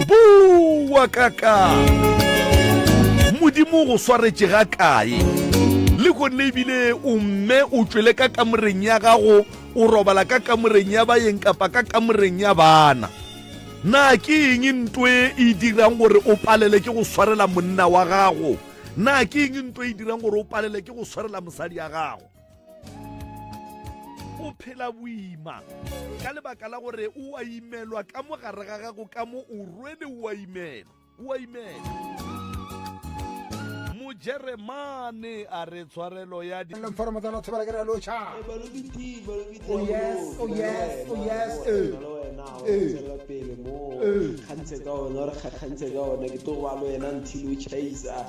bowa ka ka modimo go swaretše ga kae le gonne ebile o mme o tšwele ka kamoreng ya gago o robala ka kamoreng ya bayeng kapa ka kamoreng ya bana na ke eng nto e e dirang gore o palele ke go swarela monna wa gago na ke eng nto e dirang gore o palele ke go swarela mosadi ya gago o phela boima ka lebaka la gore o a imelwa ka mo gare ga gago ka mo o rwele o a imela o a imela mojeremane a re tshwarelo ya di Lomforomo tsa lotho bala ke re lo cha. Oh yes, oh yes, oh yes. Eh. Eh. kgantse ka ona re kgakgantse ka ona ke tlo ba le wena until o chaisa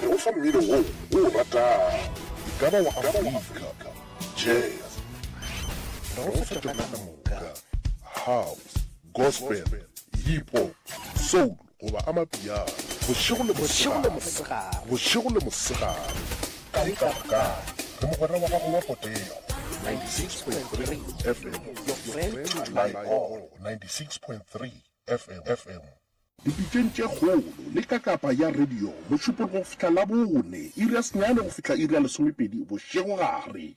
Go fa mmino wo o o ratago. E ka ba wa Afrika, jazz, ra go feta ka ka moka, house, gospel, hip hop, soul goba amapiano, bošego le mosegare, bošego le mosegare, kae kapa kae, re mogwera wa gago wa potego. 96.3 FM, your friend, my all, 96.3 FM. Dipitšeng tše kgolo, le ka kapa ya radio, mošupologo go fihla Labone, iri ya senyane go fihla iri ya lesomepedi bošegogare.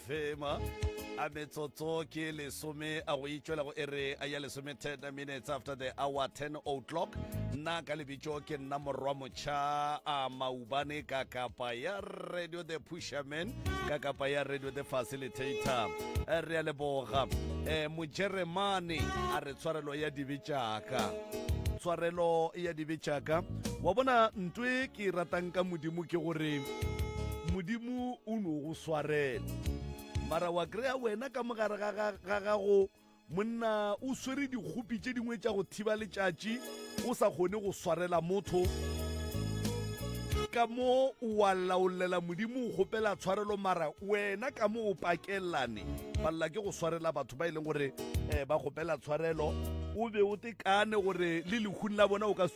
Thema a metsotso ke lesome a go itšwela go ere a ya lesome 10 minutes after the hour 10 o'clock nna ka lebitšo ke nna morwa motšha a maubane ka kapa ya radio the pusherman ka kapa ya radio the facilitator Eh, re a leboga um mojeremane a re tshwarelo ya dibe tšaka tshwarelo ya dibe tšaka wa bona ntwe ke e ratang ka modimo ke gore Modimo o no go swarela. Mara wa kry-a wena ka mogare ga gago monna o swere dikgopi tše dingwe tša go thiba letšatši, o sa kgone go swarela motho. Ka mo wa laolela Modimo o kgopela tshwarelo, mara wena ka mo o pakelane palela ke go swarela batho ba e leng gore um ba kgopela tshwarelo. O be o tekane gore le lehung la bona o ka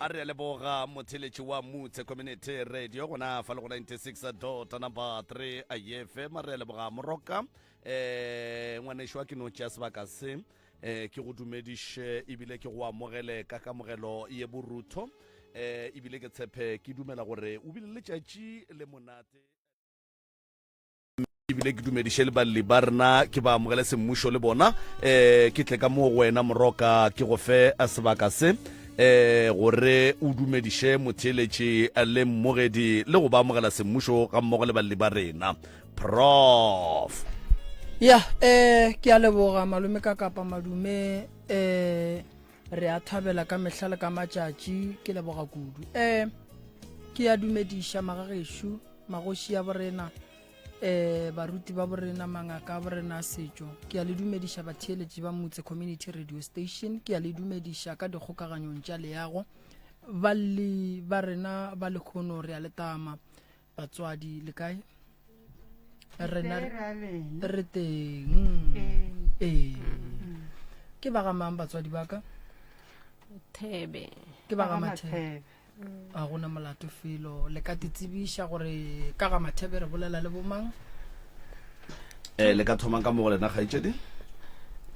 a re leboga motheletši wa mutse community radio gona fa le go 96 dota number 3 ayefe ma re leboga moroka um eh, ngwanešo wa ke no tšea sebaka se um ke go dumediše ebile ke go amogele ka kamogelo ye borutho um ebile ke tshephe ke dumela gore o bile letšatši le monate ebile ke dumediše le balli ba rena ke ba amogele semmušo le bona um ke tle ka moo go wena moroka ke go fe eh, sebaka se um gore o dumediše motheeletši eh, le mmogedi le go ba amogela semmušo ga mmogo le balli ba rena prof ya um ke a leboga malome ka kapa madume um re a thabela ka mehla le ka matšatši ke leboga kudu um ke ya dumediša magagešo magoši ya borena um baruti ba borena mangaka a borena a setšo ke ya le dumediša batheeletši ba motse community radio station ke ya le dumediša ka dikgokaganyong tša leago balli ba rena ba lekgono re a letama batswadi le kae rena re teng ee ke ba gamang batswadi ba ka thebe ke ba ga mathebe ga gona molato felo le ka titsebiša gore ka ga mathebe re bolela le bomang um le ka thomang ka mo go lena kgaitsedi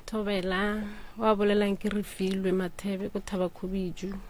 thobela wa bolelang ke re filwe mathebe ko thaba khubiju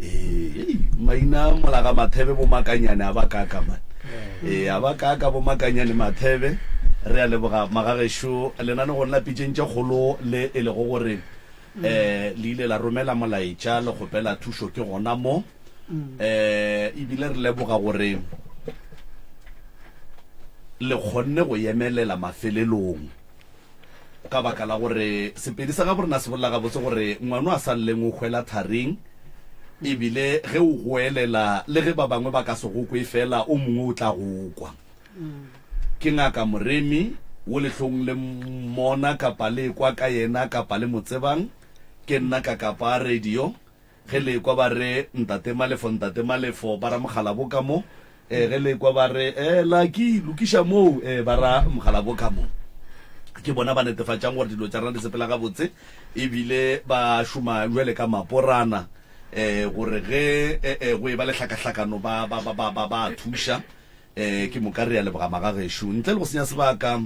Ee, ei, maina a molaga mathebe bo makanyane a ba kaka man ee a ba kaka bo makanyane mathebe re a leboga magagešo lena le go nna pitšeng tše kgolo le e lego gore um le ile la romela molaetša le kgopela thušo ke gona mo um ebile re leboga gore le kgonne go yemelela mafelelong Ka baka la gore Sepedi sa gaborena se bolela gabotse gore ngwano a sa lleng o hwela tharing, e bile ge o goelela le ge ba bangwe ba ka se go kwe feela o mongwe o tla go kwa. Ke ngaka Moremi, wo le hlong le mmona kapa le ekwa ka yena kapa le mo tsebang, ke nna Kakapa a radio. Ge le ekwa ba re, Ntate Malefo, Ntate Malefo, ba ra Mokgalabo ka mo. Ee, ge le ekwa ba re, Ee, Lucky, lokiša moo, ee, ba ra Mokgalabo ka mo. Ke bona ba netefatšang gore dilo tša rena di sepela gabotse e bile ba šoma bjale ka maporana ee, gore ge ee, go e ba le hlakahlakano ba, ba, ba, ba, ba, ba a thuša. Ee, ke moka re a leboga magagešo. Ntle le go senya sebaka,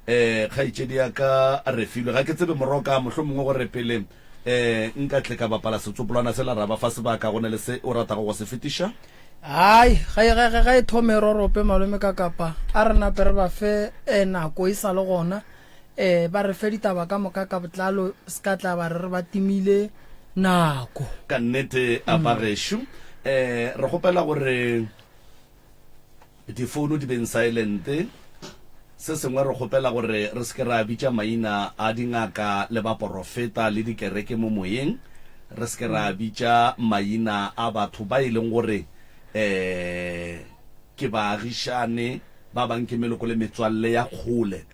ee, kgaetšedi ya ka Refilwe, ga ke tsebe Moroka, mohlomongwe gore pele ee nka tle ka bapala setsopolwana sela ra ba fa sebaka, go na le se o ratago go se fetiša? Hai, ga e, ga, ga, ga e thome e rorope, Malome Kakapa. A re nape re ba fe ee nako e sa le gona, ee, ba re fe ditaba ka moka ka botlalo, se ka tla ba re re ba timile nako. Ka nnete, a bagešo. Ee, re kgopela gore Difounu di beng saelente. Se sengwe, re kgopela gore re se ke ra bitša maina a dingaka le baporofeta le dikereke mo moyeng, re se ke ra bitša maina a batho ba e leng gore ke baagišane, ba bangwe ke meloko le metswalle ya kgole.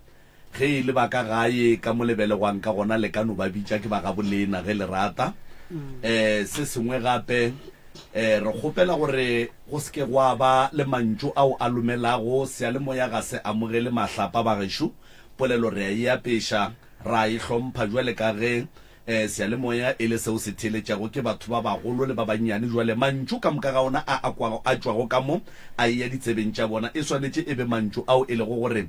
Ge e le ba ka gae, ka mo le belegwang ka gona, le ka no ba bitša ke ba gabolena ge le rata. Um se sengwe gape, um re kgopela gore go se ke gwa ba le mantšu ao a lomelago seyalemoya ga se amogele mahlapa. Bagešo, polelo re a e apeša, ra e hlompha bjale ka ge um seyalemoya e le seo se theeletšago ke batho ba bagolo le ba bannyane. Bjale mantšu ka moka ga ona a a tšwago ka mo, a eya ditsebeng tša bona, e swanetše e be mantšu ao e lego gore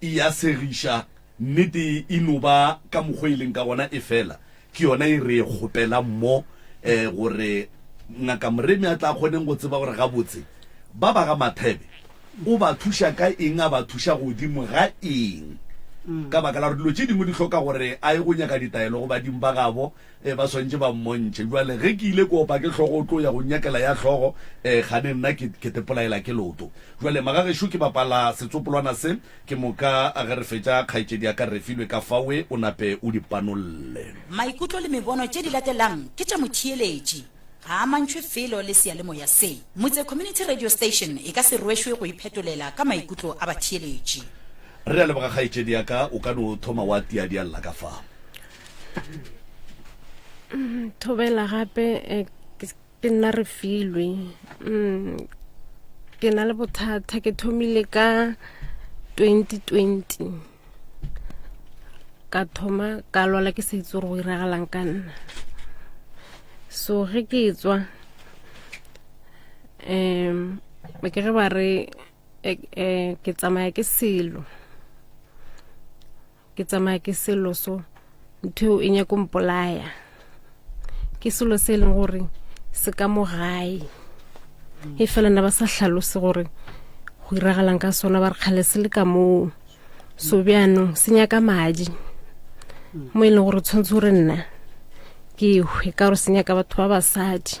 e a segiša, nnete e no ba ka mokgwa e leng ka gona, efela ke yona e re e kgopelang mo, um gore Ngaka Moremi a tla kgoneng go tseba gore gabotse ba ba ga Mathebe o ba thuša ka eng, a ba thuša godimo ga eng, ka baka la gore dilo tše dingwe di hloka gore a ye go nyaka ditaelo go badimo ba gabo Ee, ba swantše ba mmontšhe. Bjale, ge ke ile ke opa ke hlogo o tlo ya go nnyakela ya hlogo, ee, kgane nna ke, ke tepolaela ke loto. Bjale, magagešo, ke bapala setsopolwana se, ke moka ge re fetša, kgaetšedi ya ka Refilwe ka fawe, o nape o di panolle. Maikutlo le mebono tše di latelang ke tša motheeletši, ga a amantšhwe felo le seyalemoya se. Motse Community Radio Station e ka se rwešwe go iphetolela ka maikutlo a batheeletši. Re a leboga kgaetšedi ya ka, o ka no thoma wa tiadialla ka fa. thobela gape eh, ke nna re filwe mm, ke na le bothata ke thomile ka 2020 ka thoma ka lwala ke sa itse gore go iragalang ka nna so ge ke tswa um ba ke re ba re eh, eh, ke tsamaya ke selo ke tsamaya ke selo so ntho eo e nyako mpolaya ke selo se e leng gore se ka mo gae e fela na ba sa hlalose gore go iragalang ka sona ba re kgale se le ka moo so bjanong se nyaka madi mo e leng gore tshwanetse gore nna ke hwe ka gore se nyaka batho ba basadi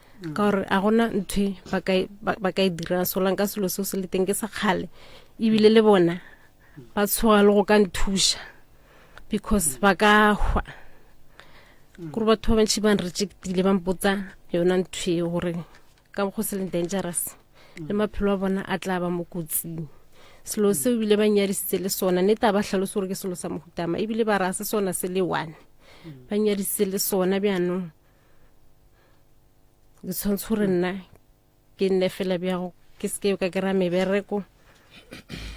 ka gore a gona ntho ba ka e dira solang ka selo seo se le teng ke sa kgale ebile le bona ba tshoga le go ka nthuša because ba ka hwa kore batho ba bantšhi ba nrejectile ba mpotsa yona ntho e gore ka go se leng dangerous le maphelo a bona a tla ba mo kotsing selo seo ebile ba nyadisitse le sona ne taba ba tlhalose gore ke selo sa mohutama ebile ba raya se sona se le one ba nyadisitse le sona bjanong ke tshwanetse gore nna ke nne fela bjago ke seke ka kry-a mebereko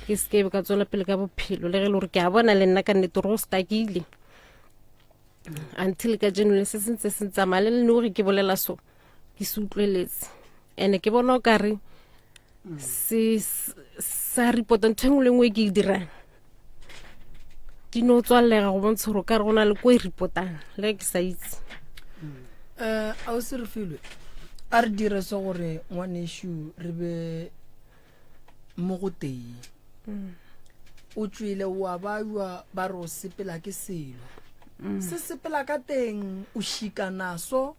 ke seke ka tswela pele ka bophelo le ge e le gore ke a bona le nna ka nnete gore go stakile until ka jeno le se sentse se ntsamaya le lene gore ke bolela so ke se utlweletse and-e ke bona o kare sa report ntho engwe le engwe e ke e dirang di no tswallega go bontsha gore ka re go na le ko e repotang le ke sa itse um eh, a o se re filwe a re dire se gore ngwanešu re be mo go teng mm. o tswile wa bajwa ba re o sepela ke selo mm. se sepela ka teng o šikanaso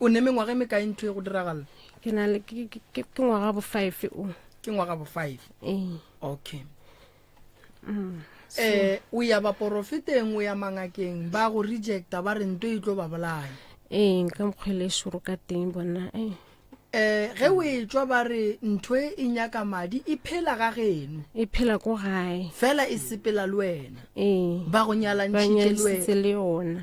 O ne mengwaga e mekae ntho e go diragala? ke na le ke- ke- ke- ke ngwaga bo five o Ke ngwaga bo five. ee Okay. um o ya baporofeteng o ya mangakeng ba go rejecta ba re nto e tlo ba bolaya ee ka mokgwele e šoro ka teng bona ee um ge o e tswa ba re ntho e e nyaka madi e phela ga geno e phela ko gae fela e sepela le wena ee ba go ba nyalantšhitše le nyadisitse wena le yona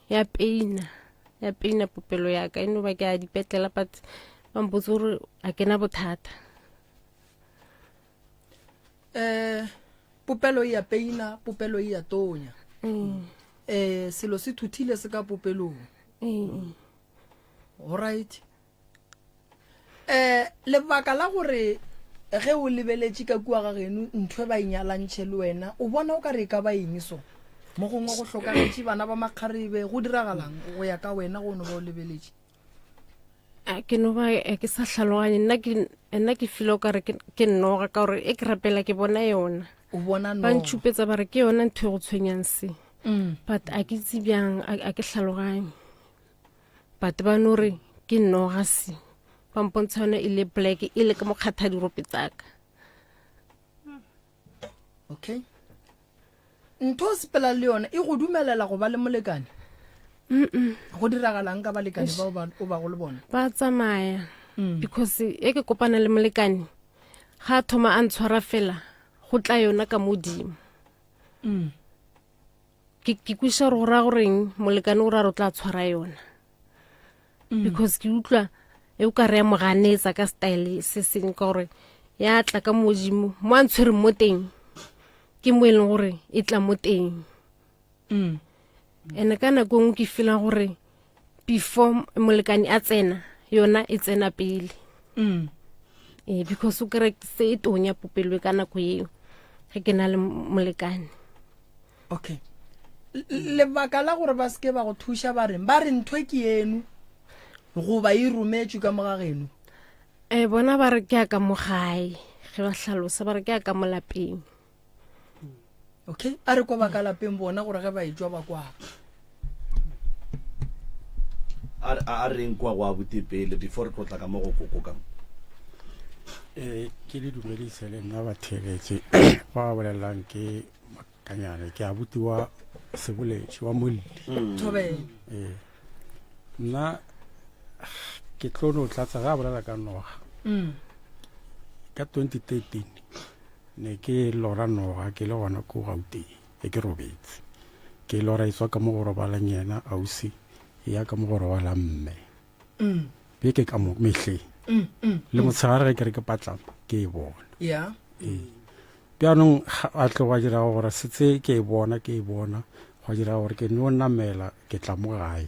ya peina ya peina popelo yaka e no ba ke a dipetlela but ba mpotse gore a ke na bothata um popelo e ya peina popelo e ya tonya um selo se thuthile se ka popelong um right um lebaka la gore ge o lebeletše ka kua ga geno ntho e ba inyalantšhe le wena o bona o ka re e ka ba eng so mo gongwe go hlokagetše bana ba makgarebe go diragalang go ya ka wena go no ba o lebeletše a ke no ba eh, ke sa tlhaloganye nna ke nna ke file o kare ke nnoga ka gore e ke rapela ke bona yona o bona ba ntšhupetsa ba re ke yona ntho e go tshwenyang se mm. but a ke itse bjang a ke tlhaloganye but ba no re ke nnogasi ba mpontsha yone e le black e le ka mokgatha dirope tsaka okay ntho o sepela le yone e go dumelela go ba le molekane go diragalang ka balekane bao o ba go le bone ba tsamaya mm. because e ke kopana le molekane ga thoma a ntshwara fela go tla yona ka modimo mm. ke ke kwiša gore go raya goreng molekane o ra re o tla tshwara yona mm. because ke utlwa e o ka re ya moganetsa ka style se seng ka gore ya tla ka modimo mo a ntshwereng mo teng ke mo e leng gore e tla mo teng mm. and-e ka nako e ngwe ke feelang gore before molekane a tsena yona e tsena pele mm. e, because o kere se e tonya popelo ka nako eo ge ke na le molekane okay lebaka la gore ba seke ba go thuša ba reng ba re ntho e ke eno goba e rometswe ka moga geno um bona ba re ke ya ka mogae ge ba hlalosa ba re ke ya ka molapeng okay a re kwa ba ka lapeng bona gore ge ba e jwa ba kwaa a re- a reng kwa go abute pele before re tlotla ka mo go koko ka mo Eh, ke le dumedise le nna batheletše ba ba bolelelang ke makanyane ke a butiwa seboletši wa molli thobela Eh, nna ke tlo no tlatsa ga a bolela ka noga Mm. ka 2013 Ne ke lora noga ke le gona ko Gauteng be ke robetse. Ke lora etswa ka mo go robalang yena ausi ya ka mo go robalang mme. Be ke ka mo mehleng. Le motshegare ge ke re ke patlama ke e bona. Yeah. Ee. Bjanong a tlo gwa dira gore setse ke e bona ke e bona gwa dira gore ke no namela ke tla mo gae.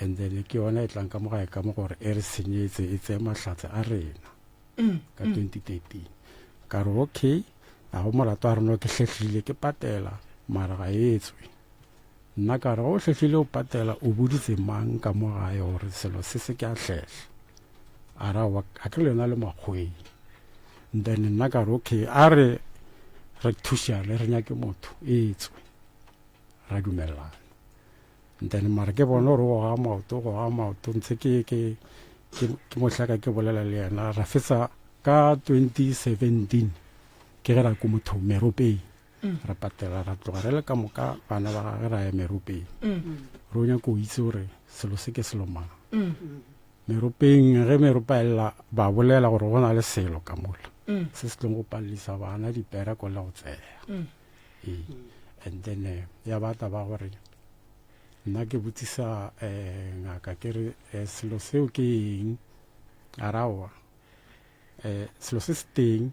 and then ke yona e tlang ka mo gae ka mo gore e re senyetse e tseye mahlatse a rena ka 2013 ka re okay a go molato a rena ke hlehlile ke patela mara ga e tswe nna ka re go hlehlile o patela o boditse mang ka mo gae gore selo se se ke a hlehla a ra wa a ke le yona le makgweng then nna ka re okay a re re thušane re nyake motho e tswe ra dumelelana ntane mara ke bona gore go ga maoto go ga maoto ntse ke ke ke mohlaka ke bolela le yena ra fetsa ka 2017 ke ge ra ko motho meropeng mm. ra patela ra tloga re le ka moka bana ba gage ra ya meropeng mm. ro nyako o itse gore selo se ke selo mang mm. meropeng ge meropa elela ba bolela gore go na le selo ka mola se se tlong go palelisa bana dipera ko le go tseya ee and then eh, ya ba taba gore nna ke botsisa um ngaka ke re eh, selo seo ke eng a raoa um selo se se teng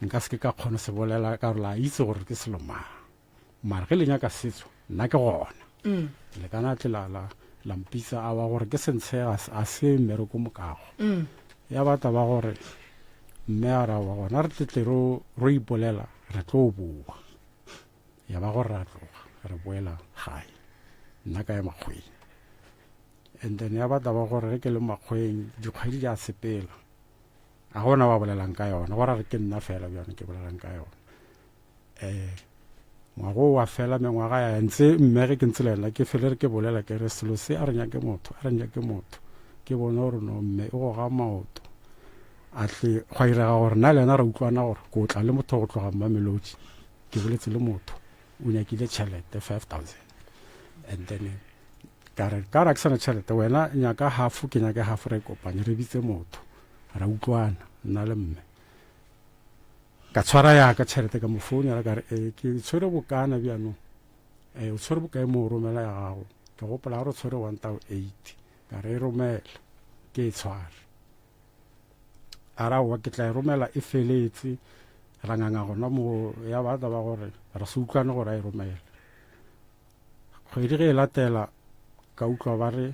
nka se ke ka kgona se bolela ka gore la itse gore ke selo mang mara ge le nyaka setso nna ke gona le kana tle la la la mpitsa a ba gore ke sentshe ga se- a se mmereko mokago ya ba taba gore mme a ra wa gona re tletle ro ro ipolela re tlo boa ya ba gore ra tloga re boela gae nna ka ya makgweng and then ya ba taba gore ge ke le makgweng dikgwedi di a sepela a gona ba bolelang ka yona gore re ke nna fela bjone ke bolelang ka yona Eh, ngwago wa fela mengwaga ya ntse mme ge ke ntse lela ke fele re ke bolela ke re selo se a re nyake motho a re nyake motho ke bone gore no mme e go ga maoto a tle go irega gore na le yena re utlwana gore ko tla le motho go tloga mmamelodi ke boletse le motho o nyakile tšhelete five thousand and then ka re ka ra ke sana tšhelete wena nyaka hafo ke nyake hafo re kopanye re bitse motho ra utlwana nna le mme Ka tshwara ya ka tšhelete ka mo founela ka re, ee, ke tshwere bokana bjanong. Ee, o tshwere bokae mo o romela ya gago? Ke gopola a re o tshwere one thou eight. Ka re e romele, ke e tshware. A re aowa ke tla e romela e feletse, ra nganga gona mo ya ba taba gore ra se utlwane gore a e romele. Kgwedi ge e latela ka utlwa ba re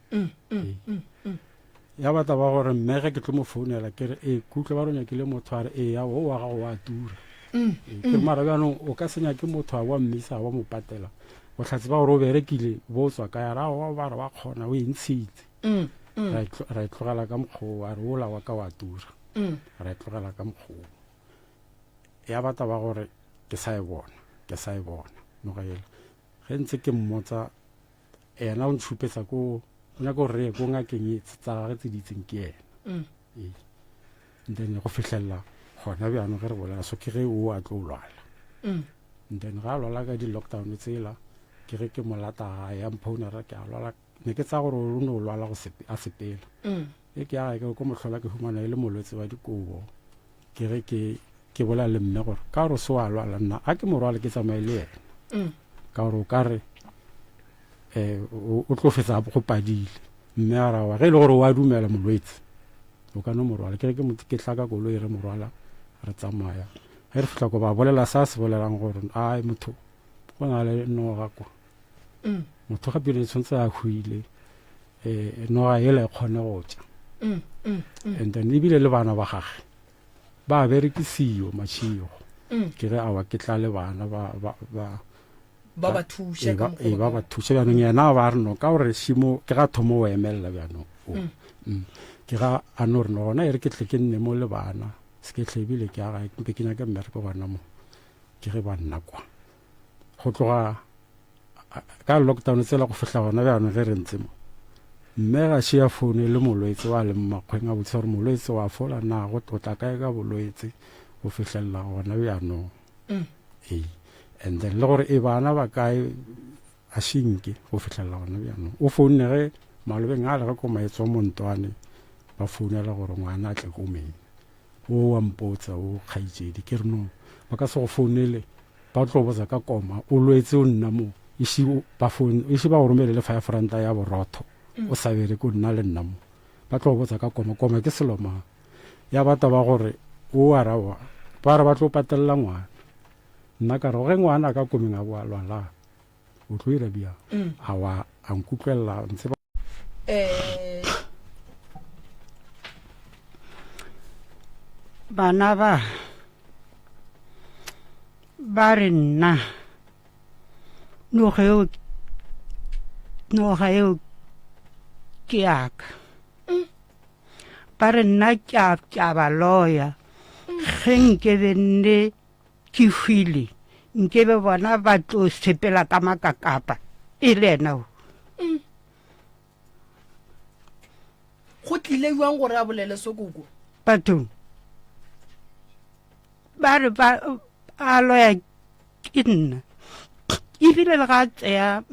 mm, mm, ee. mm, mm. ya batla ba gore mmege ke tlo mo founela ke re ee kutlwe ba ronya kile motho a re ee ya o wa gago wa tura mm, ee, ke mm. mara bjanong o ka senya ke motho a wa mmisa wa mo patela o tlhatse ba gore o berekile bo tswa ka ya rago ba re wa kgona o e ntshitse mm, mm. ra e tlogela ka mokgoo a re ola wa ka wa tura mm. ra e tlogela ka mokgoo ya batla ba gore ke sa e bona ke sa e bona nogaela ge ntse ke mmotsa yena o ntšhupetsa ko o nyaka gore reye ko ngakeng e tsa gage tse di itseng ke yena mm. ee then go fitlhelela gona bjano ge re bolela so ke ge o a tlo lwala mm. then ga a lwala ka di-lockdown tsela ke ge ke molata ga ya mphounera ke a lwala ne ke tsa gore o ne o lwala a sepela mm. Ge ke aga ke ko mohlola ke humana e le molwetse wa dikobo ke ge ke ke bolela le mme gore ka gore o se wa lwala nna a ke morwale ke tsamaye le yena mm. ka gore o ka re um o tlo fetsa go padile mme a rawa ge e le gore wa dumela molwetse o ka no morwala ke re ke tlaka kolo e re morwala re tsamaya ge re fitlha ko ba bolela sa se bolelang gore a motho go na le noga kwa mm. motho ga pele tshwanetse a hwile um noga ele kgone go tša mm, mm, and then ebile le bana ba gage ba berekisiyo matšhigo ke re awa ke tla le bana ba ba ba thuše ka mokgwa ba ba thuše bjanong yena ba re no ka gore šimo ke ga thomo o emelela bjanong mm. mm. ke ga a no re no gona e re ke tle ke nne mo le bana se ke tlhebile ke aga mpe ke nyake mmereko gona mo ke ge ba nna kwa go tloga ka lockdown tsela go fihla gona bjano ge re ntse mo mme ga šea founu e le molwetse wa le mmakgweng a botsa gore molwetse wa fola na go tlotla kae ka bolwetse go fihlelela gona bjanong mm. ee and then le gore e bana ba kae A se nke go fihlelela gona bjanong. O founne ge malobeng a le ge ko maetswa mo Ntwane ba founela gore ngwana a tle ko mena. O wa mpotsa o kgaitsedi ke re no ba ka se go founele ba tlo botsa ka koma o lwetse o nna mo isi ba foun isi ba go romele le five ranta ya borotho o sa bere ko nna le nna mo ba tlo botsa ka koma koma ke selo mang ya ba taba gore o ara wa ba re ba tlo patelela ngwana nna ka re ge ngwana ka komeng a boa lwala o tlo ira bjang mm. a wa a nkutlwelela ntseba eh. bana ba ba re nna noga eo noga eo ke yaka mm. ba re nna ke a ba loya mm. ge nkebe nne Ke hwile nke be bona ba tlo sepela ka makakapa e le ena o. Mm. Go tlile jwang gore a bolele so koko? Batho ba re ba a loya ke nna ebile le ga tseya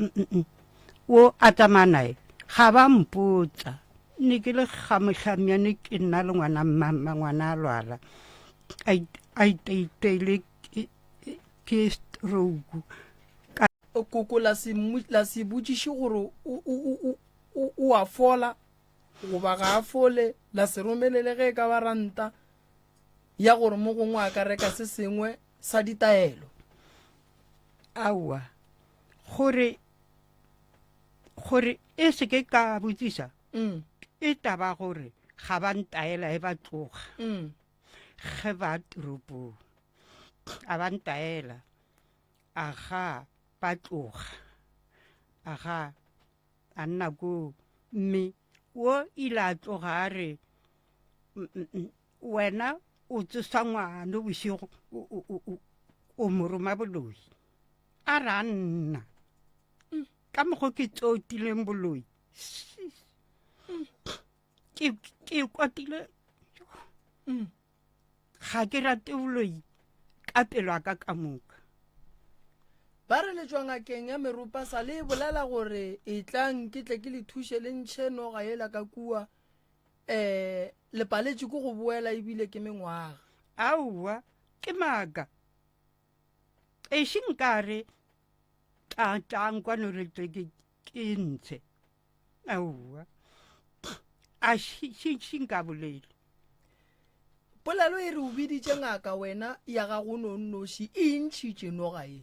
o a tsamaya nae ga ba mpotsa Ne ke le kgamohlamiane ke nna le ngwana mmamma ngwana a lwala a iteiteile ke stroke ka koko la se la se botšiše gore o a fola goba ga a fole la se romelele ge e ka ba ranta ya gore mo gongwe a ka reka se sengwe sa ditaelo aowa gore gore e se ke ka botsisa mm. e taba gore ga ba ntaela e ba tloga mm. ge ba toropong a ba ntaela a ga ba tloga a ga a nna koo mme o ile a tloga a re Wena o tsosa ngwano bošego o mo roma boloi. A re a nna ka mokgwa ke tsotileng boloi ke kwatile ga ke rate boloi ka pelo a ka ka moka ba re letswa ngakeng ya meropa sa le e bolela gore e tlang ke tle ke le thuše le ntšhe noga yela ka kua Ee, le paletše ke go boela ebile ke mengwaga. Aowa, ke maaka. Ešo nkare tla tlang kwano re tle ke ke ntshe. Aowa. A shi shi shi nka bolele. Polelo e re o biditše ngaka wena ya gago nonnoši e ntšhitše noga e.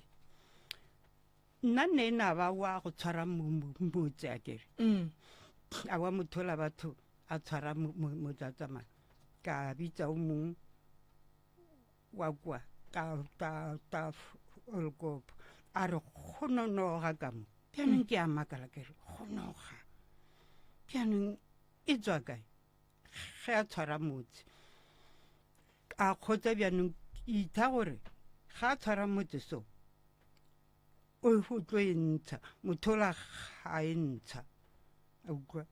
nna nne e naba wa go tshwara motse a kere a wa mothola batho a tshwara motlatsamana ka bitsa o mongwe wa kwa ka olkopo a re go nonoga ka mo bjanong ke a makala kere go noga bjanong e tswa kae ge a tshwara motse a kgotsa bjanong itha gore ga a tshwara motse so o go tlo e ntsha mothola ga e ntsha a utlwa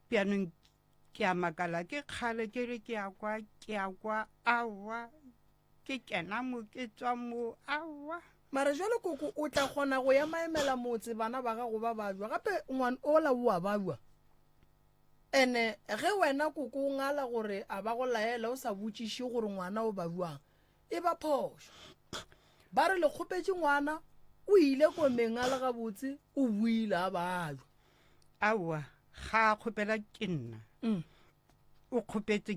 bjanong ke a makala ke kgale ke re ke a kwa ke a kwa awa Ke kena mo ke tswa mo awa. Mara jwale koko o tla kgona go ya maemela motse bana ba gago ba bajwa gape ngwan ola o a bajwa ene ge wena koko o ngala gore a ba go laela o sa botšiše gore ngwana o bajwang e ba phošo ba re le kgopetše ngwana o ile komeng a le gabotse o buile a bajwa aowa ga a kgopela ke nna mm. o kgopetse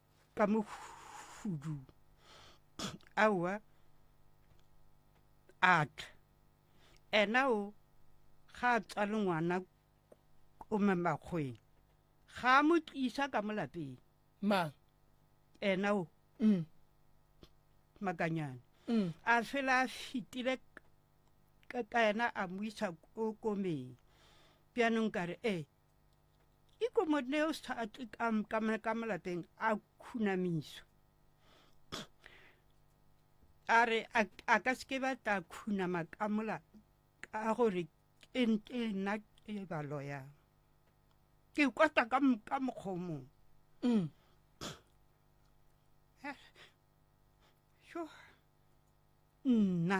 ka mo hudu aowa a tla ena o ga a tswa le ngwana o memakgweng ga a mo tlisa ka mo lapeng mang ena o mm. makanyane mm. a fela a fitile ka ena a mo isa ko komeng bjanong ka re ee Ikomoneus ka, ka, ka malapeng a khunamiso a re a ka seke ba tla khunama ka mola ka gore ke nna ke ba loya ke kwata ka ka mokgomong mm. sure nna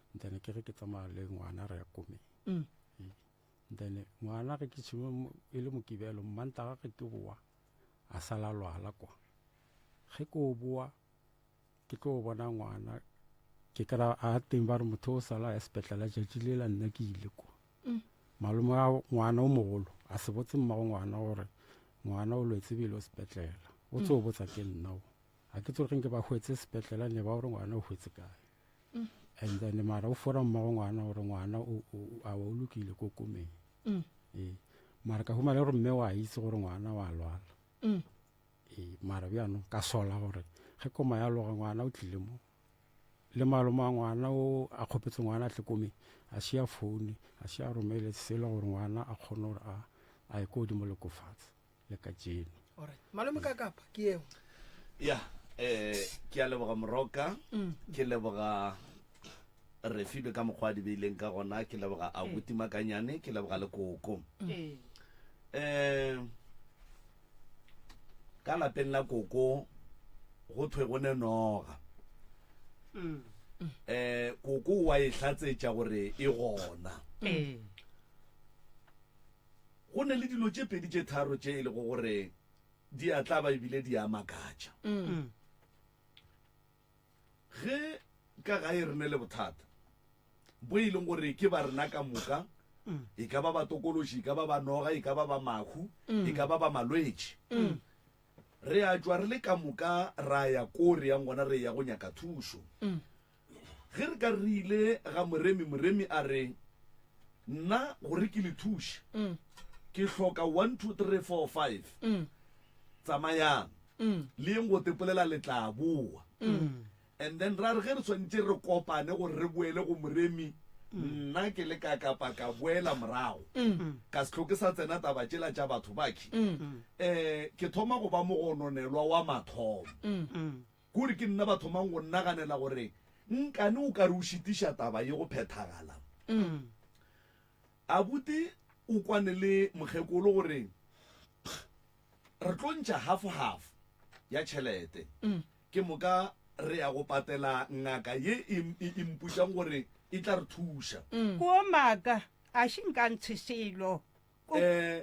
then ke re ke tsamaya le ngwana re ya komeng mm. then ngwana ge ke tshime e le mokibelo mmantaga ge ke boa a sala lwala kwa ge ke o boa ke tlo bona ngwana ke kry a teng ba re motho o sala ya sepetlele jatši le la nna ke ile kwa mm. malome a ngwana o mogolo a se botse mmago ngwana gore ngwana o lwetse bile o sepetlele o tse o mm. botsa ke nna o a ke tsoge ke ba hwetse sepetlele ne ba gore ngwana o hwetse kae and then mara o fora mmago ngwana gore ngwana a wa o lokile ko komeng mm. ee mara ka humana gore mme wa itse gore ngwana wa lwala mm. ee mara bjano ka sola gore ge koma ya loga ngwana o tlile mo le malome a ngwana o a kgopetse ngwana a tle komeng a šea foune a šea romele selo gore ngwana a kgone gore a ye ko godimo le kofatse le ka jeno Alright. Malome ka kapa ke yeo. ya eh ke a leboga moroka ke leboga refilwe ka mokgwa a di beileng ka gona ke leboga abuti makanyane ke leboga le koko Ee. um ka lapeng la koko go thwe go ne noga Mm. um koko wa e tlatsetša gore e gona Ee. Go ne le dilo tše pedi tše tharo tše e lego gore di a tlaba ebile di a makatša. Ge ka gae re ne le bothata boo e leng gore ke ba rena ka moka, e ka ba batokološi, e ka ba ba noga, e ka ba ba mahu, e ka ba ba malwetši, re a tšwa re le ka moka ra ya koo re yang gona re eya go nyaka thušo. Ge re ka re ile ga moremi, moremi a re, Nna, gore ke le thuše, ke hloka one, two, three, four, five. Tsamayang, le yeng go tepolela, le tla boa. And then ra re ge re swanetše re kopane gore re boele go moremi, nna ke le ka kapa ka boela morago, ka se hloke sa tsena taba tšela tša batho ba ke, um ke thoma go ba mogononelwa wa mathomo. Kuri ke nna ba thomang go nnaganela gore nkane o ka re o šitiša taba ye go phethagala. Abuti o kwane le mokgekolo gore, Pkg, re tlo ntšha half-half ya tšhelete. Ke moka re ya go patela ngaka ye e e mpotšang gore e tla re thuša. Kua maaka, a ši nka ntshe selo.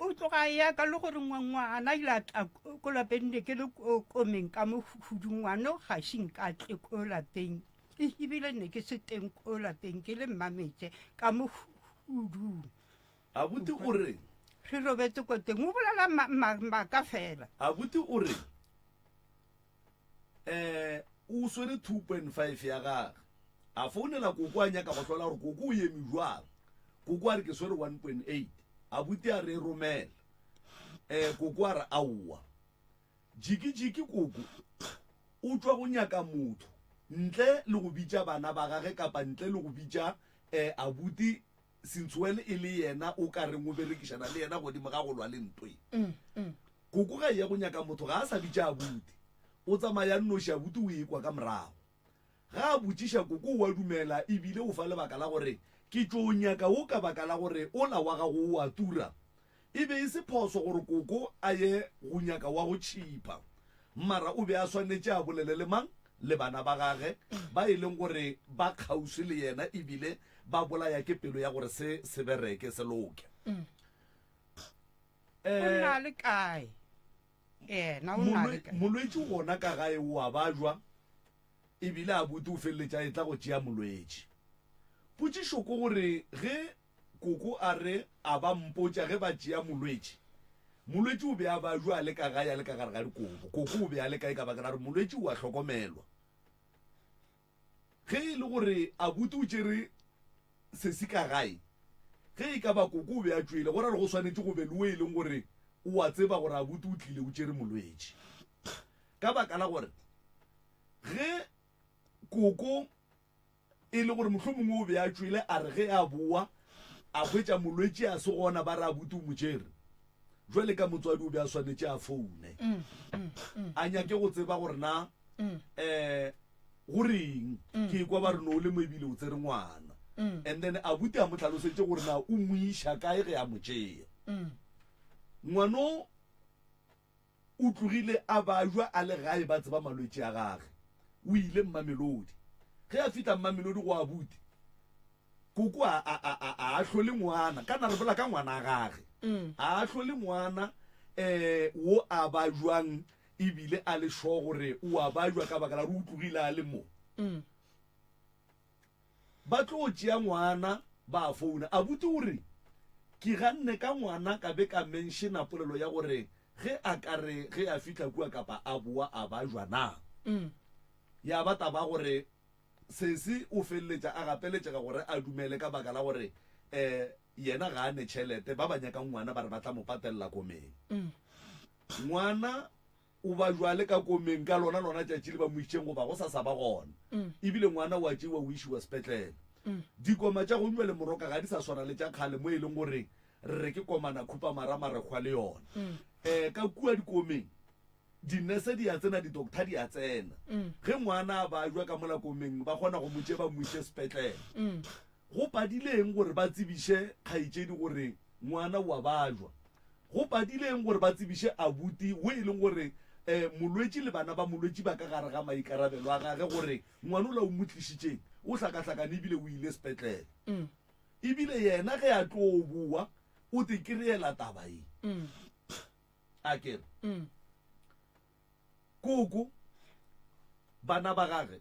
O tloga a ya ka le gore ngwana ile a tla ko lapeng ne ke le komeng ka mo hudu ngwana o ga se nka tle ko lapeng e ebile ne ke se teng ko lapeng ke le mmametse ka mo hudung abuti o re re robetse ko teng o bolela maaka fela abuti o re Ee, o swere two point five ya gage. A founela Koko a nyaka go hlola gore Koko o yeme bjwang. Koko a re ke swere one point eight. Abuti a re e romele. Ee, Koko a re aowa. Jiki-jiki Koko o tšwa go nyaka motho ntle le go bitša bana ba gage kapa ntle le go bitša abuti Since when e le yena o ka reng o berekišana le yena godimo ga go lwa le ntwe? Koko ga eye go nyaka motho ga a sa bitša abuti, o tsamaya nnoši abuti o ekwa ka morago. Ga a botšiša koko o a dumela e bile o fa lebaka la gore ke tšo o nyaka wo ka baka la gore o la wa gago o a tura. E be e se phoso gore Koko a ye go nyaka wa go tšhipa. Mara o be a swanetše a bolele le mang? Le bana ba gage, ba e leng gore ba kgauswi le yena e bile ba bolaya ke pelo ya gore se se bereke, se loke. O nna le kae? Yena o nna le kae? Molwetši o gona ka gae, o a bajwa e bile Abuti o feleletša a etla go tšea molwetši. Potšišo ke gore ge Koko a re a ba mpotša ge ba tšea molwetši. Molwetši o be a ba jwa a le ka gae a le ka gare ga dikobo. Koko o be a le kae ka baka la gore molwetši o a hlokomelwa. Ge e le gore Abuti o tšere sesi ka gae, ge e ka ba Koko o be a tšwele, go ra gore go swanetše go be le wo e leng gore o a tseba gore Abuti o tlile o tšere molwetši. Ka baka la gore ge Koko. E le gore mohlomongwe o be a tšwele, a re ge a bowa a hwetša molwetši a se gona, ba re abuti o mo tšere. Bjale ka motswadi o be a swanetše a foune, a nyake go tseba gore na um go reng. Ke ekwa ba re no o le mo ebile o tsere ngwana, and then abuti a mo hlalosetše gore na o mo iša kae ge a mo tšea ngwano. o tlogile a bajwa a le gae ba tseba malwetši a gage. O ile Mmamelodi. Ge a fihla Mmamelodi go abuti, Koko a, a, a, a, a ahlole ngwana, kana re bolela ka ngwana a gage, a ahlole ngwana um wo a bajwang ebile a le sure gore o a bajwa ka baka la gore o tlogile a le mo. Ba tlo tšea ngwana ba a founa. Abuti o re, Ke ganne ka ngwana ka be ka menšena polelo ya gore ge a ka re ge a fihla kua kapa a boa a ba jwa na. Ya ba taba gore sesi o feleletša a gapeletšega gore a dumele ka baka la gore yena ga a ne tšhelete, ba ba nyakang ngwana ba re ba tla mo patelela komeng. Ngwana O ba bjale ka komeng ka lona lona tšatši le ba mo išeng goba go sa sa ba gona. E bile ngwana o a tšewa o išiwa sepetlele. Dikoma tša gong bjale moroka ga di sa swana le tša kgale mo e leng gore re re ke komana khupamara marekgwa le yona. Um ka kua dikomeng dinese di a tsena, di-doctor di a tsena. Ge ngwana a bajwa ka mola komeng ba kgona go mo tšea ba mo iše sepetlele. Go padile eng gore ba tsebiše kgaetšedi gore ngwana o a bajwa? Go padile eng gore ba tsebiše abuti wo e leng gore um molwetši le bana ba molwetši ba ka gare ga maikarabelo a gage gore ngwana ola o mo tlišitšeng o hlakahlakane ebile o ile sepetlele? Mm. Ebile yena ge a tlo boa o te ke reela taba e. Mm. A kere. Mm. Koko bana ba gage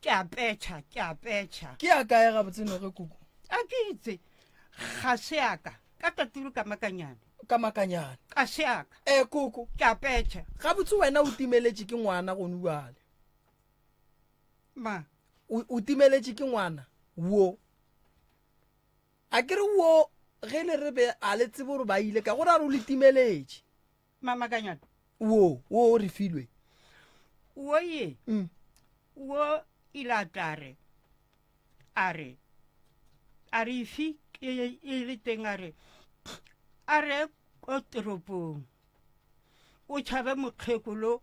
Ke a petšha, ke a petšha. Ke a kae gabotse noge kuku? A ke itse, ga se a ka. Ka taturu ka makanyane. Ka makanyane. Ka se a ka. E kuku. Ke a petšha. Gabotse wena o timeletše ke ngwana gone bjale. Ma. O, o timeletše ke ngwana wo. A ke re wo ge le re be a le tsebe gore ba ile ka go ra re o le timeletše. mamakanyana wo wo o re filwe wo ye mm. wo ilatare a re a re ifi e le teng a re a re ko toropong o tšhabe mokgekolo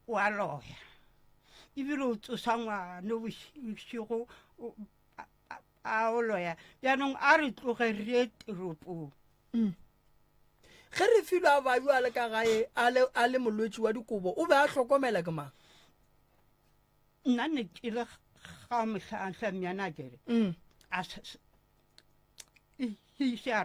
wa loya ebile o tsosa ngwane bošego a o loya jaanong a re tloge re teropong mm. ge re filo a bayo a le ka gae a le molwetši wa dikobo o be a hlokomela ke mang nna ne ke le ga motlhatlha myanakere mm. a se a